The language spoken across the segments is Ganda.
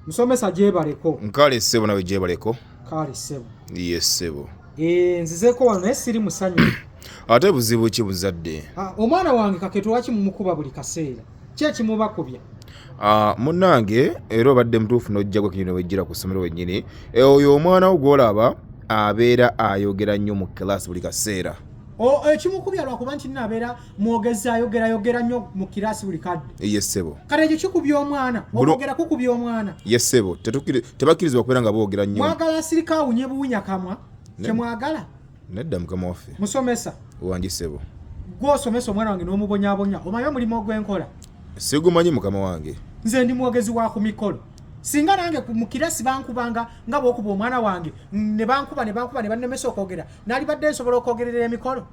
musomesa gyebaleko nkale ssebo nawe gyebaleko kale ssebo ye ssebo eh, nzizeeko wano naye siri musanyu ate buzibu ki buzadde ah, omwana wange kaketo lwaki mumukuba buli kaseera ki ekimubakubya ah, munnange era obadde mutuufu n'ojjagwa kinyina wejjira ku ssomero wennyini eh, oyo omwana wo gw'olaba abeera ayogera nnyo mu kilaasi buli kaseera ekimukubya lwakuba nti nno abeera mwogezi ayogera yogera nnyo mu kiraasi buli kadde ye ssebo kale ekyo kikubya omwana okwogera kukubya omwana ye ssebo tebakkirizibwa kubeera nga boogera nnyo mwagala asirika awunye buwunya kamwa kyemwagala nedda mukama waffe musomesa wangi ssebo gwosomesa omwana wange n'omubonyabonya omanyi omulimu ogwenkola sigumanyi mukama wange nze ndi mwogezi wa ku mikolo singa nange mu kirasi bankubanga nga bwokuba omwana wange ne bankuba ne bankuba ne bannemesa okwogera nalibadde nsobola okwogerera emikolo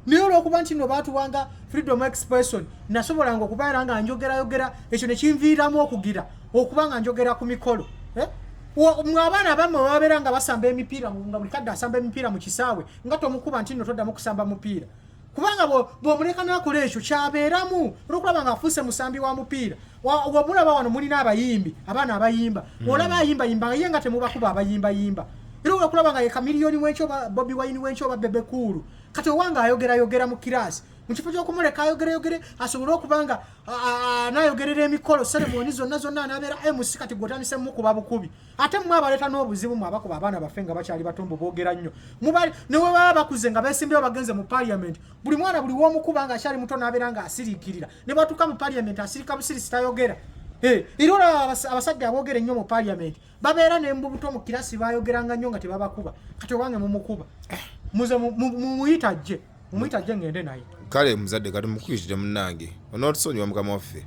naye olwokuba nti no baatuwanga freedom expression nasobolanga okubeera nga njogerayogera ekyo nekinviiramu okugira okuba nga njogera ku mikolo eh? mwe abaana abamu babeera nga basamba emipiira nga buli kadde asamba emipiira mu kisaawe nga tomukuba nti no toddamu kusamba mupiira kubanga bwomuleka nakola ekyo kyabeeramu olwokulaba nga afuuse musambi wa mupiira wamulaba wano mulina abayimbi abaana abayimba hmm. olaba ayimbayimba ye nga temubakuba abayimbayimba era olwokulaba nga ye kamiliyoni wenkyo bobi wayini wenkyo oba bebekuulu kati owange ayogera yogera mu kiraasi mu kifo kyokumuleka ayogere yogere asobole okuba nga anayogerera emikolo seremoni zonna zonna anabeera mc kati gwotandise mukuba bukubi ate mwe abaleeta n'obuzibu mwe abakuba abaana baffe nga bakyali batombo boogera nnyo newebaba bakuze nga besimbewo bagenze mu paliament buli mwana buli womukuba nga akyali muto nabeera nga asiriikirira ne bwatuuka mu paliament asirika busirisi tayogera era olaba abasajja aboogera ennyo mu paliament babeera nembubuto mu kirasi bayogeranga nnyo nga tebabakuba kati owange mumukuba muze mumuyita ajje mumuyita ajje ngende naye kale muzadde kati mukuyitire munange onotusonyiwa mukama waffe